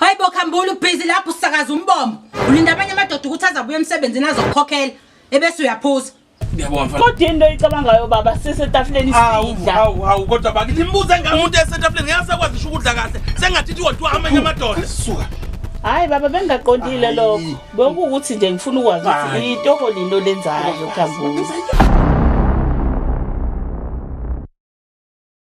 Hayi bo khambula ubhizi lapho usakaza umbombo. Ulinda abanye amadoda ukuthi azabuye emsebenzini azokukhokhela ebese uyaphuza. Ngiyabona mfana. Kodwa into oyicabangayo baba sisetafuleni Awu sidla. awu awu kodwa baki nimbuze ngani umuntu esetafuleni ngeke asakwazi isho ukudla kahle sengathi ithi wodwa amanye amadoda. Suka. Hayi baba bengaqondile Ayi. lokho. Bekuwukuthi nje ngifuna ukwazi ukuthi Hayi. itoho lino lenzayo khambula.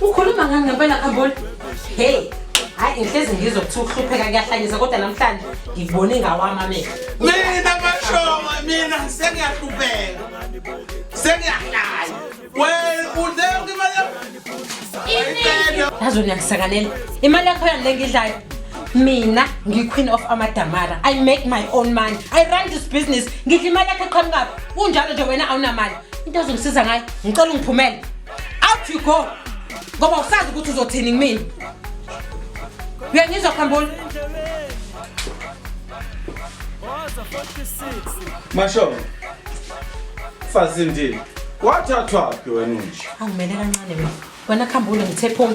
ukhuluma ngani ngempela khamboli hey hayi ngihlezi ngizwa kuthiwa ukuhlupheka kuyahlanyisa kodwa namhlanje ngikubone ngawami amehlo mina mashonga mina sengiyahlupheka sengiyahlanya wena udle yonke imali yazi wena uyangisakanela imali yakho yani le ngidlayo mina ngiyi-queen of amadamara i make my own money i run this business ngidla imali yakho eqhamukaphi kunjalo nje wena awunamali into ezongisiza ngayo ngicela ungiphumele out you go ngoba usazi ukuthi uzothini kumina uyangizwa khamboni masho fazindini wathathwaphi wena unje angimele kancane wena wena khambule ngithe phuma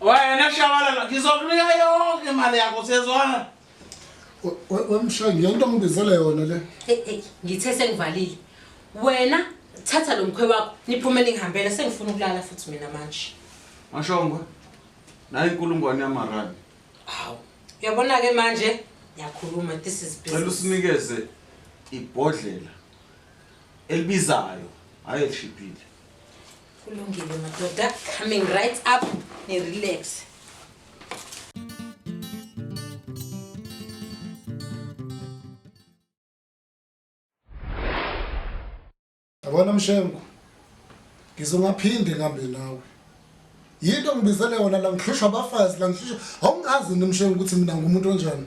Wena shabalala ngizokunika yonke imali yakho siyezwana. Wemshayi ngiyento ngibizele yona le. Hey hey ngithe sengivalile. Wena thatha lo mkhwe wakho niphume ningihambela sengifuna ukulala futhi mina manje. Mashongwe. Nayi inkulungwane yamarandi. Hawu. Uyabona ke manje ngiyakhuluma this is business. Cela usinikeze ibhodlela elibizayo hayi elishibhile. kulungile madoda coming right up nirelaxe yabona mshengu ngizongaphinde ngihambe nawe yinto ngibizele yona la ngihlushwa abafazi la ngihlushwa awungazi nomshengu ukuthi mina ngumuntu onjani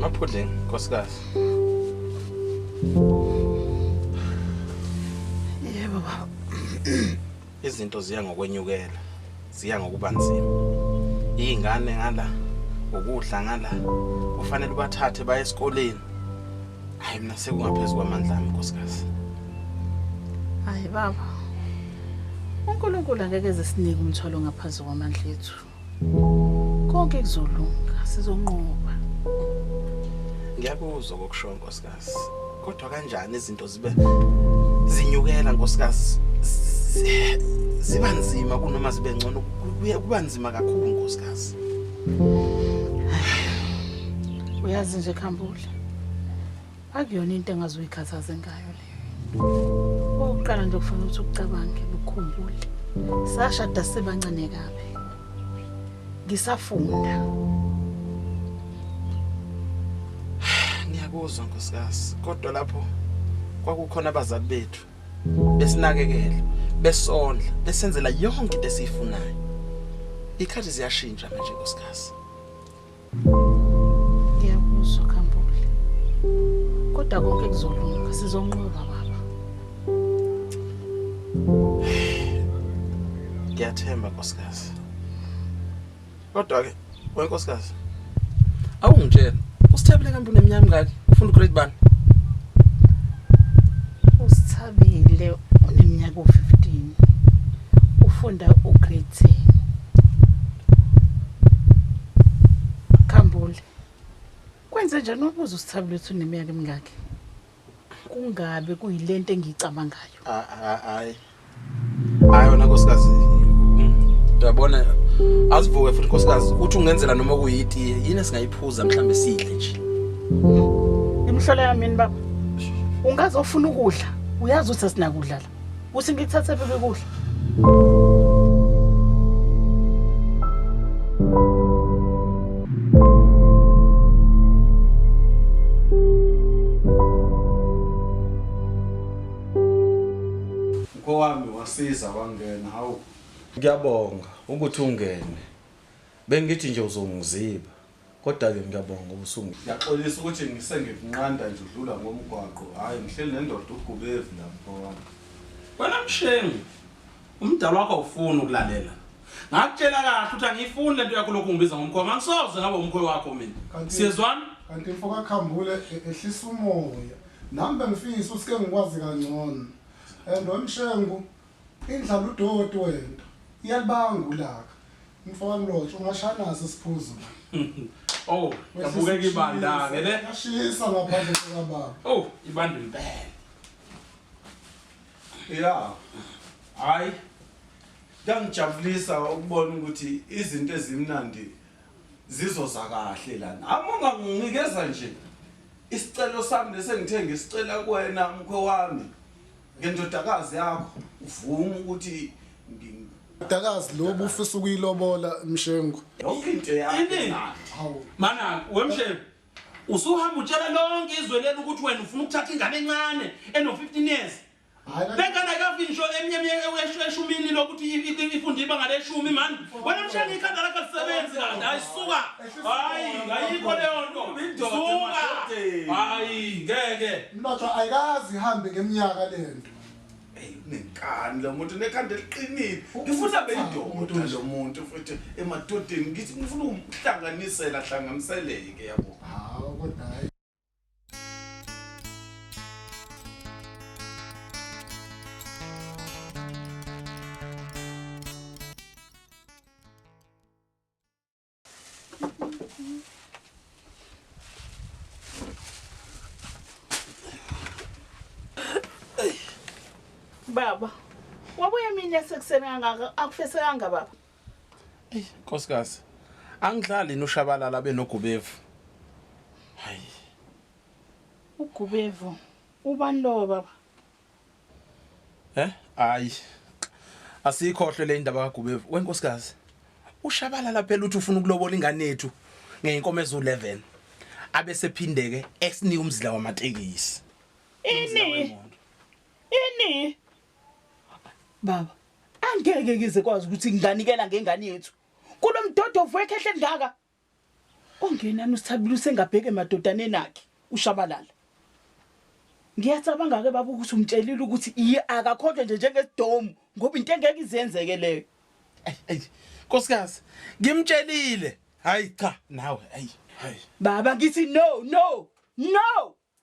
Maphudleni, nkosikazi. Yebo baba. izinto ziya ngokwenyukela ziya ngokuba nzima iy'ngane ngala ukudla ngala kufanele ubathathe baye esikoleni hhayi mina sekungaphezu kwamandla ami nkosikazi hhayi baba unkulunkulu angeke zisinike umthwalo ngaphezu kwamandla ethu konke kuzolunga sizonqoba ngiyakuzwa kokushoyo nkosikazi kodwa kanjani izinto zibe zinyukela nkosikazi ziba nzima kunoma zibe ngcono kuba nzima kakhulu nkosikazi uyazi nje khambula Akuyona into engazoyikhathaze ngayo leyo. Oqala nje kufanele ukuthi ucabange ukukhumbule. Sashada sebancane kabi. Ngisafunda. Ngiyakuzwa nkosikazi, kodwa lapho kwakukhona abazali bethu besinakekela, besondla, besenzela yonke into esiyifunayo. Ikhathi ziyashintsha manje nkosikazi. Ngiyakuzwa Kambule. Kodwa konke kuzolunga, sizonqoba baba. Ngiyathemba nkosikazi. Kodwa ke wenkosikazi awungitshela usithabile kampuni emnyama ngaki ufuna ugrade bani? Usithabile uneminyaka u-15 ufunda ugrade 10. Khambule. Kwenze njani ubuza usithabile ukuthi uneminyaka emingaki? Kungabe kuyilento engiyicabangayo. Ah, ah, Hayi. Hayi wena nkosikazi. Uyabona asivuke futhi nkosikazi uthi ungenzela noma kuyitiye yini esingayiphuza mhlambe sidle nje. Imhlola yami yini baba? Ungaze ufuna ukudla. Uyazi ukuthi asinakudlala. Uthi ngikuthathe phephe kuhle. Mkhowami wasiza wangena hawu. Ngiyabonga ukuthi ungene. Bengithi nje uzongiziba. Kodwa-ke ngiyabonga ngoba usungi. Ngiyaxolisa ukuthi ngisengikunqanda nje udlula ngomgwaqo. Hhayi ngihleli nendoda ugubevu la mfo wami. Wena mshengu umdala wakho awufuni ukulalela ngakutshela kahle ukuthi angiyifuni lento yakho lokhu ngibiza ngomkhowa ngangisoze ngaba umkhowa wakho mina Kanti- siyezwana kanti mfo kakhambule e- ehlisa umoya nami bengifisa ukuthi ke ngikwazi kangcono and wemshengu Indlala udoti wento iyalibanga ulaka. Mfo kaMlotshwa ungashaya naso isiphuzo la. Oh, yabukeka ibandane le. Yashisa ngaphandle kwababa. Oh, ibanda impela. Yeah. Hayi. Kuyangijabulisa ukubona ukuthi izinto ezimnandi zizoza kahle lana. Amunga nginikeza nje isicelo sami lesengithe ngisicela kuwena mkhwe wami. Ngendodakazi yakho uvuma ukuthi ngi- Dakazi lo bufisa ukuyilobola Mshengu. yonke into yakho Ini? imnandi. Mana wemshebe usuhamba utshela lonke izwe leli ukuthi wena ufuna ukuthatha ingane encane eno-15 years Hayi kanti- bengane ayikafi ngisho eshumini lokuthi i- i- ifunde ibanga leshumi mani wena mshebe ikhanda lakho lisebenzi kanti hayi suka Hayi, ngayikho leyo nto. Suka. Hayi, ngeke. Mlotshwa ayikazi ihambe ngeminyaka lento. Hey, unenkani lo muntu nekhanda eliqinile. Ngifuna beyindoda lo muntu futhi emadodeni ngithi ngifuna ukumhlanganisela hlanganiseleke yabo. Hawu kodwa hayi. baba wabuye mina sekuseni kangaka akufesekanga baba eyi nkosikazi angidlali noshabalala benogubevu hayi ugubevu ubani lowo baba Eh? Hayi. Asikhohlwe le indaba kaGubevu. Wenkosikazi. Ushabalala phela uthi ufuna ukulobola ingane yethu ngeenkomo ezu11. Abe sephindeke esinika umzila wamatekisi. Ini? Ini? Baba, angeke ngize kwazi ukuthi nginganikela ngengane yethu. Kulomdodovu wekhehle ngaka. Ongenani uSithabile usengabheke emadodaneni akhe uShabalala. Ngiyacabanga-ke baba ukuthi umtshelile ukuthi iye akakhohlwe nje njengesidomu ngoba into engeke izenzeke leyo. Ayi ayi nkosikazi ngimtshelile. Hayi cha nawe ayi. Hayi. Baba ngithi no no no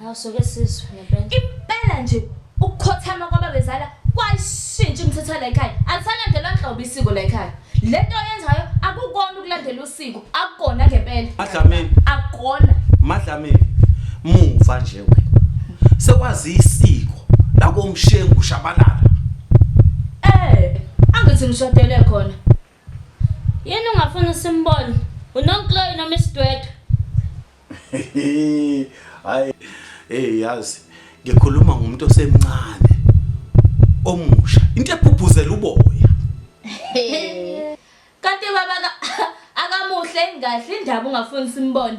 Awusuke sizwe ngempela. Impela nje ukukhothama kwababezala kwashintsha umthetho la ekhaya. Alisalandelwa nhlobo isiko la ekhaya. Lento oyenzayo akukona ukulandela usiko, akukona ngempela. Madlamini. Akukona. Madlamini. Muva nje wena. Sekwazi isiko lakomshengu shabalala. Eh, angithi ngishadele khona. Yini ungafuna simbone? Unonkloyi noma isidwedwe? Hayi. Hey yazi ngikhuluma ngomuntu osemncane omusha. Into ephupuzela uboya. Kanti baba akamuhle engahle indaba ungafuni simbone.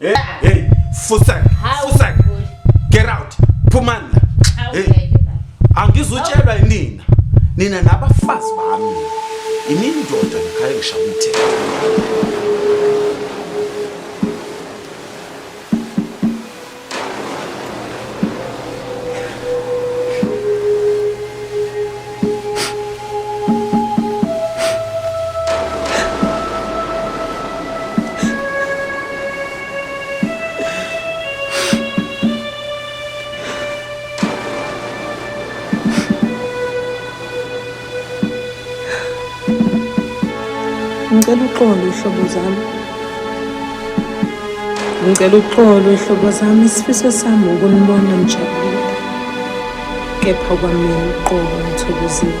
Hey, hey, fusak, fusak. Get out. Phumani la. Hey. Angizutshelwa yinina. Nina nabafazi bami. Imindoda ngikhaya ngishaya umthetho. ngicela uxolo ihlobo zami ngicela uxolo ihlobo zami isifiso sami ukunibona nijabule kepha kwamina uqobo ngithokozile.